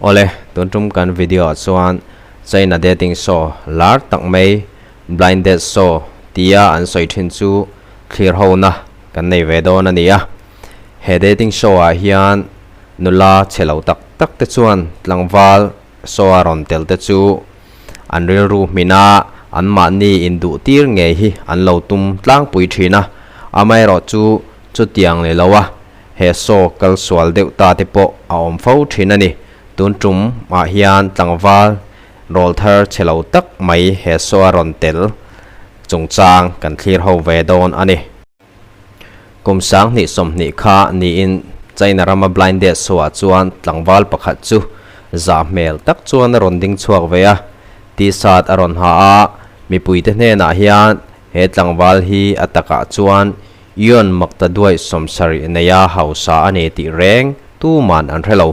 Awle, tun tum kan video ah chuan China dating show lar tak mai Blind Date Show tia an sawi thin chu thlir ho na kan nei ve dawn a ni a. He dating show ah hian nula che lo tak tak te chuan tlangval show a rawn tel te chu an rilru hmin a anmahni induh tir ngei hi an lo tum tlangpui thin a, amaherawhchu chutiang ni lo a. he saw kal sual deuh ta te pawh a awm fo thin a ni. Tun tum ah hian tlangval rawl thar che lo tak mai he saw a rawn tel chungchang kan thlir ho ve dawn a ni. Kum sang hnih sawm hnih kha niin China rama Blind Date saw ah chuan tlangval pakhat chu zah hmel tak chuan a rawn ding chhuak ve a, T-shirt a rawn ha a, mipui te hnenah hian he tlangval hi a takah chuan Ion Makta duai sawm sarih nei a hausa a ni tih reng tu man an hre lo.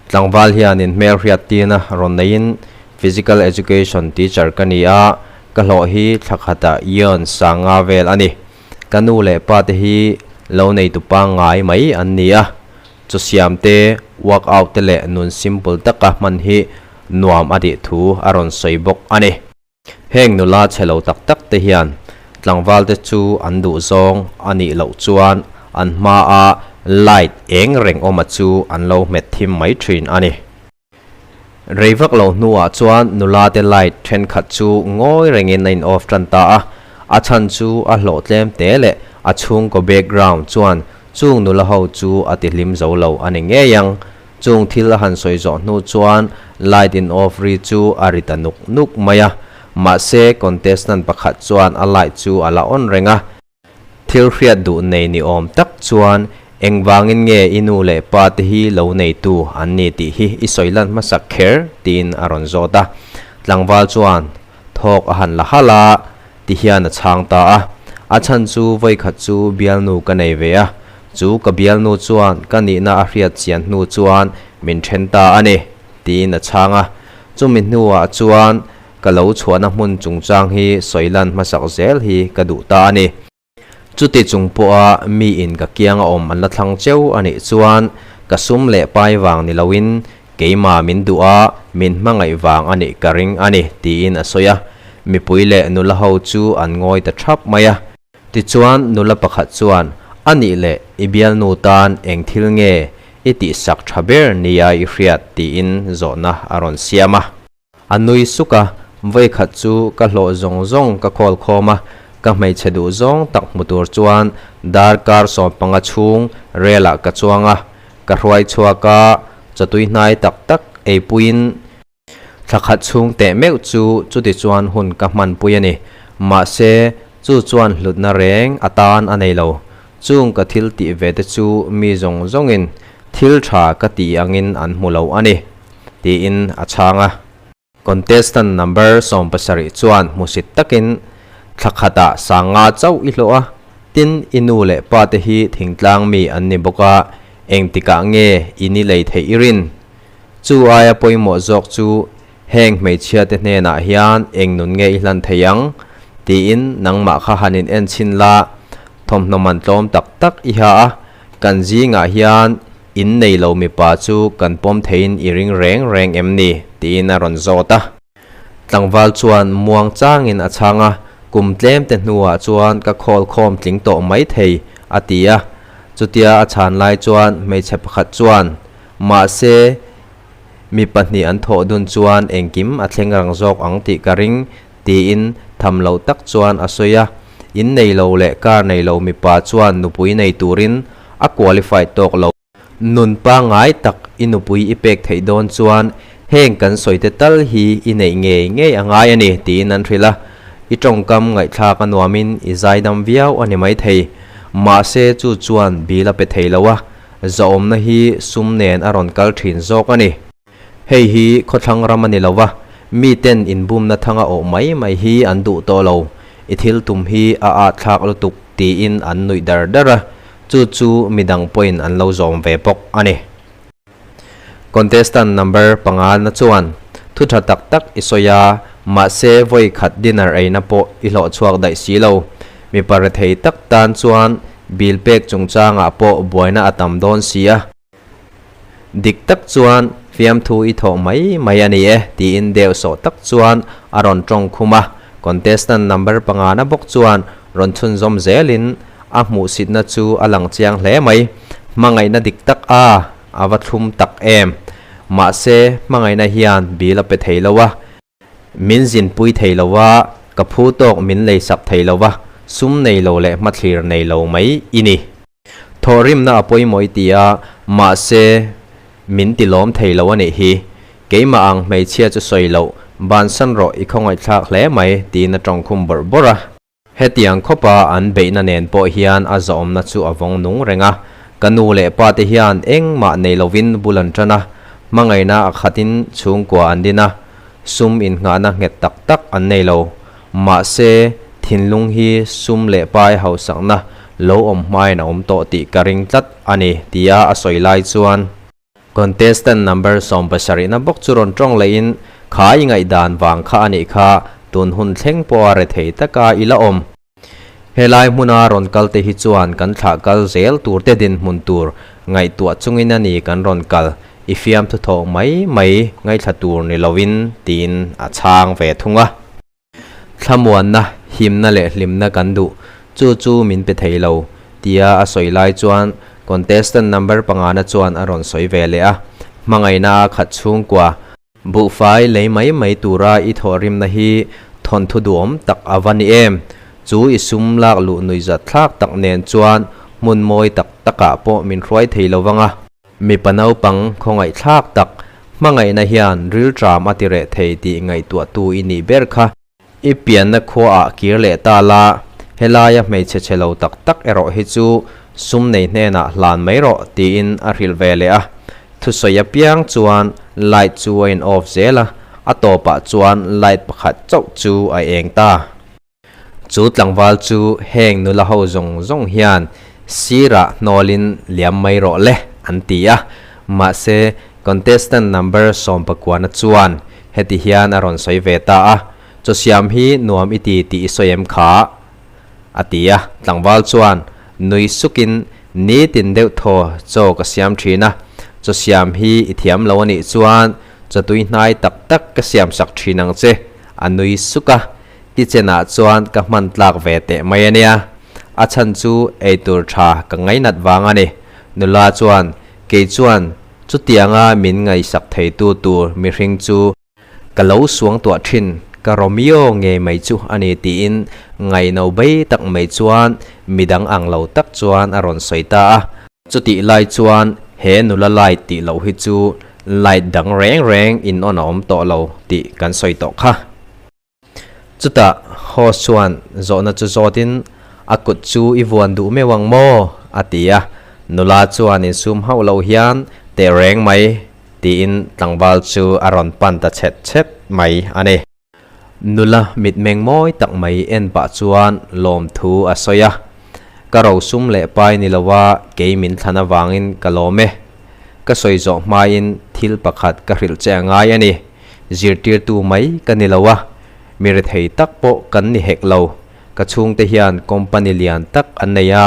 Tlangval hian in hmel hriat tin a rawn nei in, Physical Education teacher ka ni a, ka hlawh hi thlakhat a Ion sanga vel a ni. Ka nu leh pa te hi lo nei tu pa ngai mai an ni a, chaw siam te, work out te leh nun simple taka hman hi nuam a tih thu a rawn sawi bawk a ni. Heng nula che lo tak tak te hian tlangval te chu an duh zawng a nih loh chuan an hma a light eng reng awma chu an lo hmet thim mai thin a ni. Rei vak lo hnuah chuan nula te light thenkhat chu ngawi rengin a in off tan ta a, a chhan chu a hlawh tlem te leh a chhungkaw background chuan chung nula ho chu a ti hlim zo lo a ni ngei ang. Chung thil a han sawi zawh hnu chuan light in off ri chu a ri ta nuk nuk mai a, mahse contestant pakhat chuan a light chu a la on reng a. Thil hriat duh nei ni awm tak chuan engvangin nge i nu leh pa te hi lo neitu an ni tih hi i sawi lan hmasak kher tiin a rawn zawt a. Tlangval chuan. thawk a han la hal a, ti hian a chhang ta a. A chhan chu Vawikhat chu bialnu ka nei ve a, chu ka bialnu chuan ka nihna a hriat chian hnu chuan min then ta a ni, tiin a chhang a. Chumi hnuah chuan ka lo chhuahna hmun chungchang hi sawilan hmasak zel hi ka duh ta a ni. Chuti chung pawha miin ka kiang a awm an la thlang cheu a nih chuan ka sum leh pai vang ni loin keimah min duh a, min hmangaih vang a nih ka ring a ni, tiin a sawi a. Mipui leh nula ho chu an ngawi ta thap mai a. Tichuan nula pakhat chuan, A nih leh, i bialnu tan eng thil nge i tihsak tha ber nia i hriat? tiin zawhna a rawn siam a. A nui suk a, vawikhat chu ka hlawh zawng zawng ka call khawm a, ka hmeichhe duh zawng tak hmu tur chuan dar kar sawm panga chhung relah ka chuang a, ka hruai chhuak a, chawtui hnai tak tak ei puiin thla khat chhung teh meuh chu chuti chuan hun ka hman pui a ni, mahse chu chuan hlutna reng atan a nei lo. Chung ka thil tih ve te chu mi zawng zawngin thil tha ka tih angin an hmu lo a ni, tiin a chhang a. Contestant number sawm pasarih chuan hmusit takin, Thla khatah sang nga chauh i hlawh a, tin i nu leh pa te hi thingtlang mi an ni bawk a, engtikah nge i ni lei theih i rin? Chu aia pawimawh zawk chu Heng hmeichhia te hnenah hian eng nun nge i hlan thei ang? tiin nangmah kha han in en chhin la, thawmhnaw man tlawm tak tak i ha a, kan zingah hian in nei lo mipa chu kan pawm theiin i ring reng reng em ni? tiin a rawn zawt a. Tlangval chuan muang changin a chhang a, kum tlemte hnuah chuan ka khawl khawm tling tawh mai thei, a ti a. Chutia a chhan lai chuan hmeichhe pakhat chuan, Mahse, Mi pahnih an thawh dun chuan engkim a thleng rang zawk ang tih ka ring, tiin tham loh tak chuan a sawi a. In nei lo leh car nei lo mipa chuan nupui nei turin a qualified tawk lo. Nun pangngai tak i nupui i pek theih dawn chuan heng kan sawite tal hi i neih ngei ngei a ngai a ni, tiin an hrilh a. I tawngkam ngaihthlak a nuamin i zaidam viau a ni maithei. Mahse chu chuan bil a pe thei lo a. Zahawmna hi sum nen a rawn kal thin zawk a ni. Hei hi khawthlang ram a ni lo va, miten inbumna thang a awh mai mai hi an duh tawh lo. I thil tum hi a ahthlak lutuk tiin an nuih dar dar a, chu chu midang pawhin an lo zawm ve bawk a ni. Contestant number pangalna chuan, Thu tha tak tak i sawi a, mahse vawi khat dinner eina pawh i hlawh chhuak daih si lo. Mipa rethei tak tan chuan bil pek chungchangah pawh buaina a tam dawn si a, dik tak chuan fiamthu i thawh mai mai a ni e tiin deuh sawh tak chuan a rawn tawng khum a, contestant number pangana bawk chuan rawn chhunzawm zelin a hmuhsitna chu a lang chiang hle mai. Hmangaihna dik tak a, a va thlum tak em. Mahse hmangaihna hian bil a pe thei lo a. Min zin pui thei lo a, ka phu tawk min lei sak thei lo a, sum nei lo leh hmathlir nei lo mai i ni. Thawh rimna a pawimawih ti a, mahse min ti lawm thei lo a nih hi. Keimah ang hmeichhia chu sawi loh, bansan rawh i khawngawih thlak hle mai, tiin a tawngkhum bawrh bawrh a. Hetiang khawpa an beihna nen pawh hian a zahawmna chu a vawng nung reng a, ka nu leh pa te hian engmah nei lovin bul an tan a, hmangaihna a khatin chhungkua an din a, sum innghahna nghet tak tak an nei lo. Mahse, thinlung hi sum leh pai hausakna lo awm hmain a awm tawh tih ka ring tlat a ni, tia a sawi lai chuan. Contestant number sawm pasarihna bawk chu rawn tawng lehin khai ngaih dan vang kha a nih kha, tun hun thleng pawha re thei taka i la awm. Helai hmuna rawn kal te hi chuan kan thlah kal zel tur te dinhmun tur ngaihtuah chungin a ni kan rawn kal, i fiamthu thawh mai mai ngaithla tur ni lo in, tiin a chhang ve thung a. Thlamuanna, himna leh hlimna kan duh, chu chu min pe thei lo, tia a sawi lai chuan contestant number pangana chuan a rawn sawi ve leh a, hmangaihna a khat chhungkua. Buhfai lei mai mai tura i thawhrimna hi thawnthu duhawm tak a va ni em? Chu i sum lak luh nuihzat thlak tak nen chuan hmun mawi tak takah pawh min hruai thei lo vang a. Mipa naupang khawngaihthlak tak hmangaihna hian rilṭam a ti reh thei tih ngaihtuahtu i nih ber kha. I pianna khuaah kir leh ta la, helaia hmeichhe che lo tak tak erawh hi chu sum nei hnenah hlan mai rawh tiin a hrilh ve leh a. Thusawi apiang chuan light chu a in off zel a, a tawpah chuan light pakhat chauh chu a eng ta. Chu tlangval chu heng nula ho zawng zawng hian sirah hnawlin liam mai rawh le an ti a, mahse contestant number sawmpakuana chuan heti hian a rawn sawi ve ta a, Chaw siam hi nuam i ti tih i sawi em kha? a ti a, tlangval chuan nui sukin nitin deuh thaw chaw ka siam thin a, chaw siam hi i thiam lo a nih chuan chaw tuihnai tak tak ka siamsak thin ang che, a nui suk a. Tichen ah chuan ka hman tlak ve teh mai a nia, a chhan chu eitur tha ka ngainat vang a ni. Nula chuan, Kei chuan chutiang a min ngaihsak thei tu tur mihring chu ka lo suangtuah thin, ka Romeo nge mai chu a ni tiin ngaih no bai tak mai chuan midang ang lo tak chuan a rawn sawi ta a. Chutih lai chuan he nula light tih loh hi chu light dang reng reng in on a awm tawh lo tih kan sawi tawh kha. Chutah Hoss chuan zawhna chu zawtin, A kut chu i vuan duh meuh ang maw? a ti a, nula chuan in sum hauh loh hian teh reng mai tiin tlangval chu a rawn pan ta chhet chhet mai a ni. Nula mitmeng mawi tak mai en pah chuan lawmthu a sawi a, Ka rosum leh pai ni lova kei min thlan avangin ka lawm e. Ka sawi zawh hmain thil pakhat ka hrilh che a ngai a ni. Zirtirtu mai ka ni lo a, mi rethei tak pawh kan ni hek lo. Ka chhungte hian company lian tak an nei a,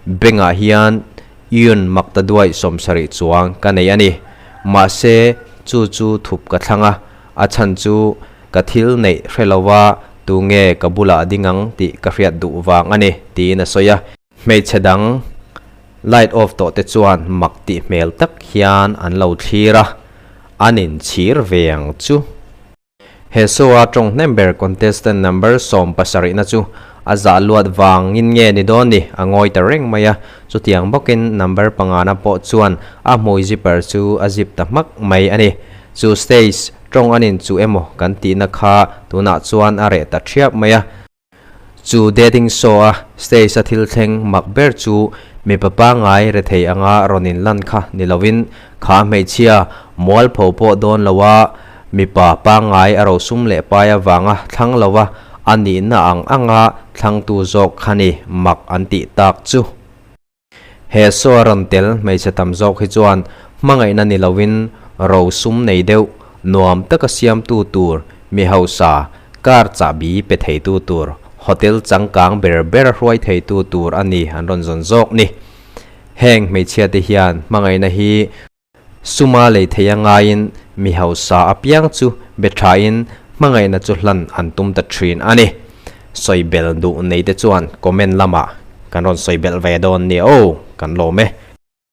bank ah hian Yun Maktaduai sawmsarih chuang ka nei a ni. Mahse chu chu thup ka thlang a, a chhan chu ka thil neih hre lo a, tunge ka bulah a ding ang tih ka hriat duh vang a ni, tiin a sawi a. Hmeichhe dang light off tawh te chuan mak tih hmel tak hian an lo thlir a, an in chhir ve ang chu. He show a tawng hnem ber contestant number sawm pasarihna chu a zah luat vangin nge ni dawn ni, a ngawi ta reng mai a, chutiang bawkin number pangana pawh chuan a hmui zipper chu a zip ta hmak mai a ni. Chu stage tawng anin chu emaw kan tihna kha tunah chuan a reh ta thiap mai a. Chu dating show-a stage-a thil thleng mak ber chu mipa pangngai rethei anga rawn inlan kha ni loin kha hmeichhia mualpho pawh dawn loa mipa pangngai a rosum leh pai avanga thlang lova a nihna ang anga thlangtu zawk kha ni mak an tih tak chu. He saw a rawn tel hmeichhe tam zawk hi chuan hmangaihna ni lovin ro sum nei deuh, nuam taka siamtu tur, mi hausa, car chahbi pe theitu tur, hotel changkang ber ber hruai theitu tur a ni an rawn zawn zawk ni. Heng hmeichhia te hian hmangaihna hi. Suma lei thei a ngaiin mi hausa apiang chu be thain hmangaihna chu hlan an tum ta thin a ni. Sawi bel duh neite chuan comment lamah kan rawn sawi belh ve dawn nia aw kan lawm e.